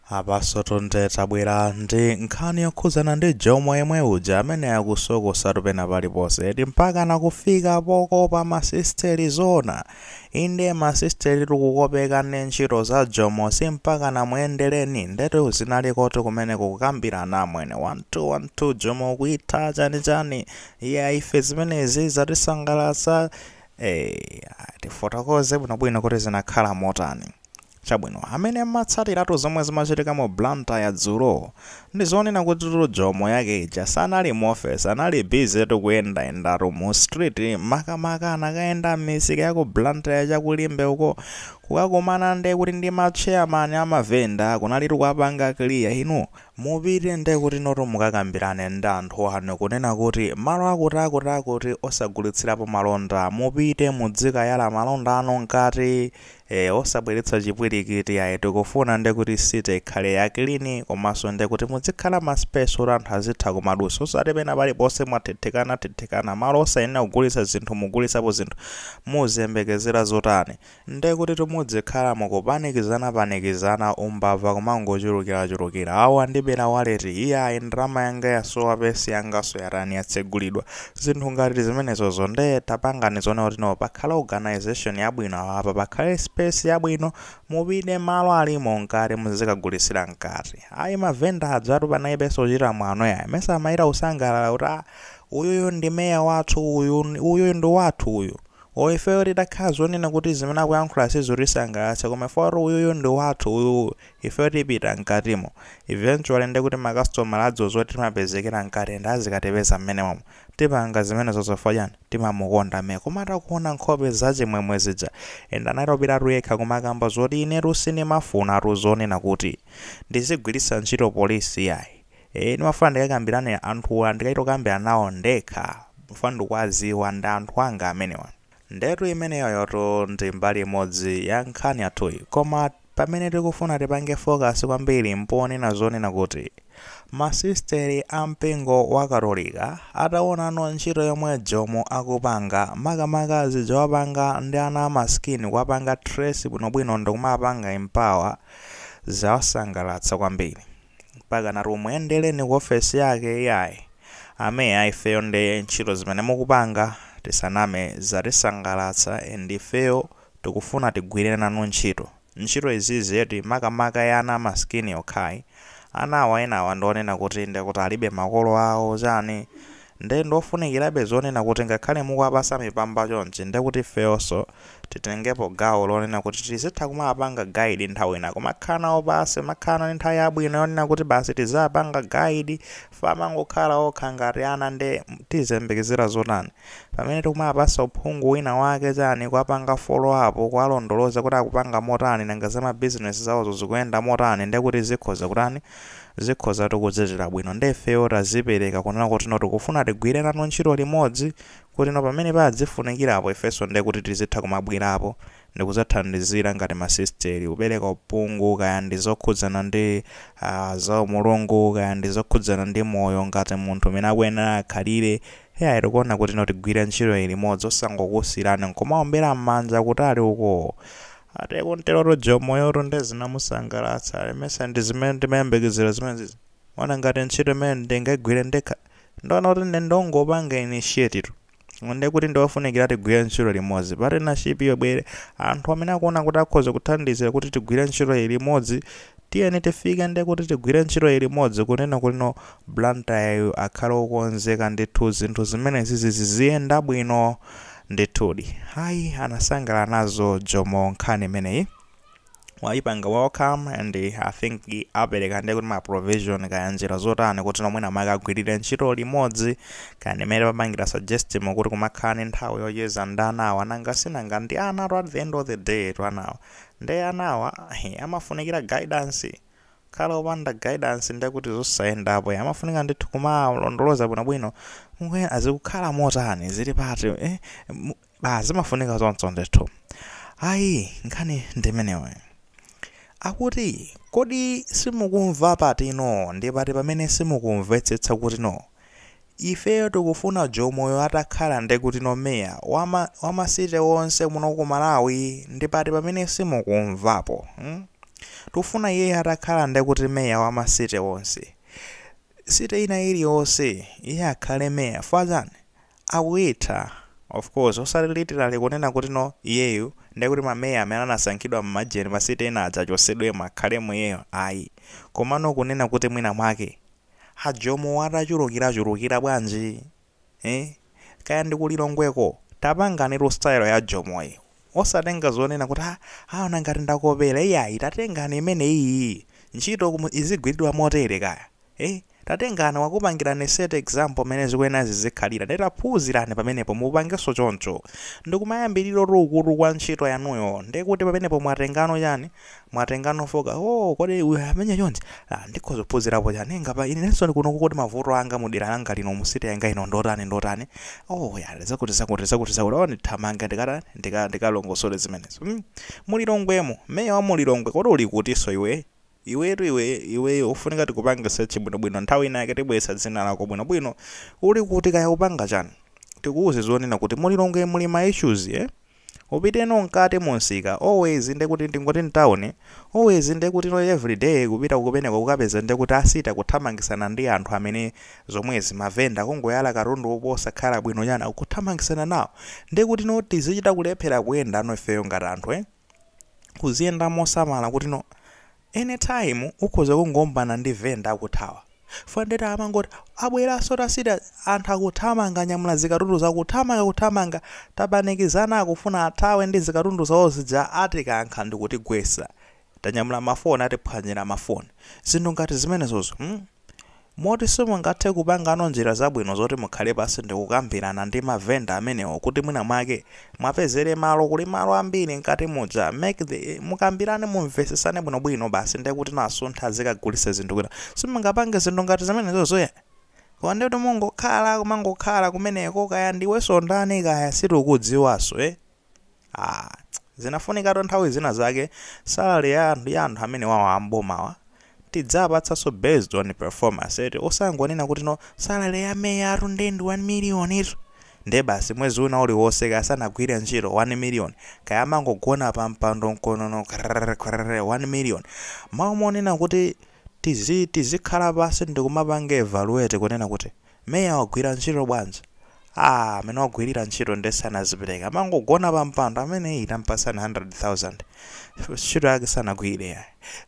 Apanso Tonde tabwera ndi nkhani yokhudzana ndi Jomo yemwe uja amene akusokosatu pena paliponse eti mpaka nakufika pokopa masisteri zoona inde masisteri tukukopeka ndi ntchito za Jomo si mpaka namuyendera ndetu zinalikotu kumene kukambirana amwene 1212 Jomo ukuitha chanichani eya ife zimenezi zatisangalatsa eh, tifotokoze bwinobwino kuti zinakhala motani Chabwino, amene mumatsatiratu zomwe zimachitika mu Blantyre dzulo, ndi zoona kutitu Jomo yake ija sanali mu office, anali busy tu kuyendayendatu mu street, makamaka anakayenda mmisika ya ku Blantyre cha ku Limbe uko, kukakumana nde kuti ndi ma chairman a ma vendor, kunalitu kuwapanga clear, inu mupite nde kuti inotu mukakambirane ndi anthu anu kunena kuti malo akuti akuti akuti osagulitsirapo malonda, mupite mudzikayala malonda anu mkati, Eee osabweretsa chipwirikiti ayi tikufuna nde kuti city ikhale ya clean komanso nde kuti mudzikhala ma space oti anthu azitha kumadutsa osati pena paliponse mwathithikana thithikana malo osayenera kugulitsa zinthu mukugulitsapo zinthu muziyembekezera zotani nde kutitu mudzikhala mukupanikizana panikizana umbava kumangochulukira chulukira awu andibera wallet iyayi ndalama yanga yasowa purse yanganso yatani yatsegulidwa Zinthu ngati zimenezozo nde tapangani zoona kuti no pakhale organisation yabwino awapa pakhale space yabwino mupite malo alimo mkati muzikagulitsira mkati ayi ma vendor ajatu panaibenso kuchita mwano yayi mesa amachita kusangalala kuti ah uyuyu ndi mayor wathu uyu uyuyu ndi wathu uyu o ifeyo titakhala zonena kuti zimene akuyankhula sizitisangalatsa koma ife kuti uyuyu ndi wathu uyu Ifeyo tipita mkatimo. Eventually nde kuti ma customer adziwa zoti timapezekera mkati and azikatipeza mmenemomo. Tipanga zimenezo chifukwa chani? Timamukonda mayor. Koma atakuona nkhope zachimwemwe zija and anatopitatu yekha kumakamba zoti inetu sindimafunatu zonena kuti ndizigwiritsa ntchito police iyayi. Eeh ndimafuna ndikakambirane anthuwa ndikachita kukambirana nawo ndekha chifukwa ndikuwadziwa ndi anthu anga amenewa. Ndetu imeneyoyotu ndi mbali imodzi ya nkhani yathuyi koma pamene tikufuna tipange focus kwambiri mpoonena zoona kuti ma sisteri a mpingo wa katolika atawonano ntchito yomwe Jomo akupanga makamaka zija wapanga ndi ana a masikini kuwapanga trace bwinobwino ndikumawapanga empower zawasangalatsa kwambiri. mpaka nati muyendereni ku office yake iyayi ameya ifeyo nde ntchito zimene mukupanga tisaname zatisangalatsa and ifeyo tikufuna tigwire nanu ntchito ntchito izizi eti makamaka ya ana amaskini yokhayi ana awa enawa ndionena kuti ndekuti alibe makolo awo chani Nde ndiofunikirabe zonena kuti ngakhale mukuwapasa mipamba chonchi ndekuti ifeyoso titengepo gawo lonena kuti tizitha kumawapanga guide nthawi ina kumakhala nawo pansi kumakhala nawo ndi nthawi yabwino yonena kuti basi tiziwapanga guide chifukwa amangokhala okha ngati ana nde tiziyembekezera zotani pamene tikumawapasa uphungu wina wake chani kuwapanga follow up kuwalondoloza kuti akupanga motani nanga za ma business zawozo zikuyenda motani ndekuti zikhoza kutani zikhozatu kuchitira bwino nde ifeyo tazipereka kunena kuti no tikufuna tigwire nanu ntchito limodzi kuti no pamene padzifunikirapo ifenso nde kuti tizitha kumabwerapo ndikudzathandizira ngati masisiteri kupereka uphungu kaya ndi zokhudzana ndi ah, za Mulungu kaya ndi zokhudzana ndi moyo ngati munthu mmene akuyenera akhalire eya tikuona kuti no tigwire ntchito iyi limodzi osangokusiirani nkumaombera m'manja kutali uko Atiye kuntelotu Jomo yotu nde zinamusangalatsa ali mesa ndi zimene ndimayembekezera zimenezizi. Ona ngati ntchito imene ndingagwire ndekha. Ndaona kuti nde ndongopanga initiate tu. Nde kuti ndiwofunikira tigwire ntchito limodzi. Partnership iyo ibwere. Anthu amene akuona kuti akhoza kuthandizira kuti tigwire ntchito iyi limodzi tiyeni tifike nde kuti tigwire ntchito iyi limodzi kunena kuti no Blantyre yu akhale okonzeka ndithu zinthu zimenezizi ziziyenda bwino. Ndithudi ayi anasangalala nazo Jomo nkhani imeneyi wayipanga welcome and I think apereka ndekuti ma provision kaya njira zotani kuti no mwina mwake agwirire ntchito limodzi kaya ndi mmene papangira suggest mu kuti kumakhala ndi nthawi yocheza ndi anawa nanga sinanga ndi anatu at the end of the day tu anawa ndi anawa he, amafunikira guidance kukhala opanda guidance ndiye kuti zosayenda apo amafunika ndithu kumalondoloza bwinobwino mwe azikukhala motani zili pati eh, mu- ah, zimafunika zonse ndithu ayi nkhani ndimeneyo akuti kodi simukumva patino ndi pati pamene simukumvetsetsa kuti no Ifeyo tikufuna Jomoyo atakhala ndekutino Mayor wama city wonse muno ku Malawi ndipati pamene simukumvapo hmm tikufuna iyeyo atakhala ndekuti Mayor wama city wonse city ina iliyonse iye akhale Mayor chifukwa chani akuitha of course osati literally kunena kutino iyeyu ndekuti ma Mayor amene anasankhidwa mmajeni ma city ena adzachosedwemo akhalemo iyeyo ayi komano kunena kuti mwina mwake a Jomo wa atachulukira chulukira bwanji eh kaya ndi ku Lilongweko tapanganitu style ya Jomoyi osatenga zonena kuti ah aona ngati ndakopera iyayi tatengani imeneyiyi ntchito izigwiridwa motere kaya eh tatengani wakupangirani set example mmene zikuyenera zizikhalira ndiye taphunzirani pamenepo mupangenso choncho ndikumayambiriro tu ukutu kwa ntchito yanuyo ndiye kuti pamenepo mwatengano chani Mwatengano foka oo kodi uyu amenya chonchi ah ndikhoza kuphunzirapo chani ngapa inenso ndili kuno kuti mavuto anga m'dera langa lino mu city yanga ino ndotani ndotani oo ya zakuti zakuti zakuti zakuti oo ndithamange ndikatani ndika ndikalongosole zimenezo mm mu Lilongwemo meya wa mu Lilongwe kodi uli kutinso iwe iwetu iwe iweyo ufunika tikupange search bwino bwino nthawi ina yake tibweretsa dzina lako bwino bwino uli kuti kaya ukupanga chani tikuuze zonena kuti mu Lilongwe muli ma issues eh Upiteno mkati mu msika, always nde kuti ndingoti mtown, always nde kuti no every day kupita kumeneko kukapeza nde kuti a city kuthamangisana ndi anthu amene zomwezi ma vendor kungoyala katundu apo osakhala bwino chani akuthamangisana nawo nde kuti no tizichita kulephera kuyendano ifeyo ngati anthu eh kuziyenda mosamala kuti no any time ukhoza kungowombana ndi vendor akuthawa fukwa nde tamangoti abweraso a city anthu akuthamanga anyamula zikatundu zawo kuthamanga kuthamanga tapanikizana akufuna athawe ndi zikatundu zawo zija atikankha ndikutigwesa tanyamula ma phone atiphwanyila ma phone zinthu ngati zimenezozo mm. Moti simungathe kupangano njira zabwino zoti mukhale pansi ndikukambirana ndi ma vendor amenewo kuti mwina mwake mwapezere malo kuli malo ambiri mkati muja mukambirane mumvesesane bwino bwino basi ndekuti no asunthe azikagulisa zinthu kwina simungapange zinthu ngati zimenezozo ya koma ndekuti mungokhala kumangokhala kumeneko kaya ndiweso ndani kaya sitikudziwaso ee. Aaa zinafunikatu nthawi zina zake salary ya anthu ya anthu amenewawa a m'bomawa tidziwapatsanso based on performance eti osangonena kuti no salary ya meyatu nde ndi 1 million tu nde basi mwezi wina uliwonse kaya sanagwire ntchito 1 million kaya amangogona pa mpando mkonono krrr krrr 1 million malo monena kuti tizi tizikhala pansi ndikumapanga evaluate kunena kuti Meya wagwira ntchito bwanji? Aaa mmene wagwilira ntchito nde sanazipereka amangogona pa mpando ameneyu tampasani 100,000 ntchito yake sanagwire yayi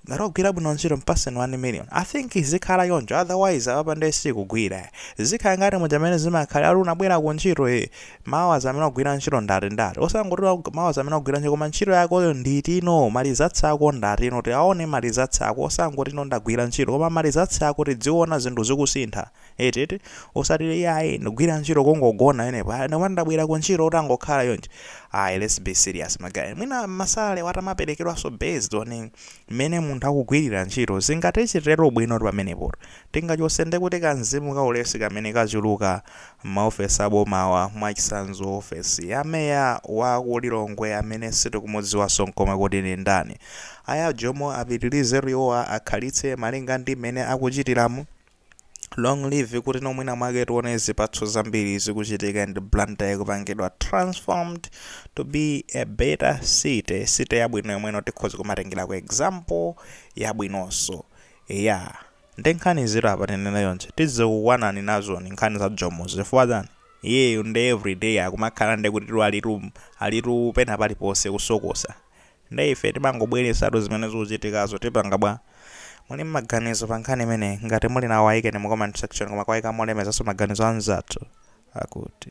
ngati wagwira bwino ntchito mpasani 1 million I think izikhala choncho otherwise apapa nde sikugwira yayi zikhala ngati muja mmene zimakhalira ati unabwera ku ntchito ee mawa zamene wagwira ntchito ndati ndati osangoti wag, mawazi amene wagwira ntchito koma ntchito yakoyo ndi itino malizatsi ako ndatino tiaone malizatsi ako osangoti ino ndagwira ntchito koma malizatsi ako tidziona zinthu zikusintha eti eti osati iyayi ndikugwira ntchito kungogona yenepo ayi ndikoma ndabwera ku ntchito utangokhala choncho ayi let's be serious ma guy mwina masalale atamaperekedwanso based on mmene munthu akugwirira ntchito zingatichitire bwino pamenepo Tingachotse ndikuti ka mzimu ka ulesi kamene kachuluka mma ofesi a bomawa, mwachitsanzo ofesi ya mayor wa ku Lilongwe amene sitikumudziwanso nkomwe kuti ndi ndani. Aya Jomo apitilizetu iwowa akhalitse malinga ndi mmene akuchitiramu. Long live kuti mwina mwake tione zipatso zambiri zikuchitika and Blantyre ikupangidwa transformed to be a better city, city yabwino yomweno tikhoza kumatengerako example yabwinonso. Eya. Nde nkhanizitu apa tinene chonchi, tizikukwanani nazoni nkhani za Jomozi chifukwa chani? Iyeyu nde everyday akumakhala nde kutitu alitu alitu pena paliponse kusokosa. Nde ife timangobweretsatu zimene zikuchitikazo tipanga bwa? Muli ndi maganizo pa nkhani imeneyi? Ngati muli nawo ayikeni mu comment section koma kuwayika molemezanso maganizo a anzathu akuti.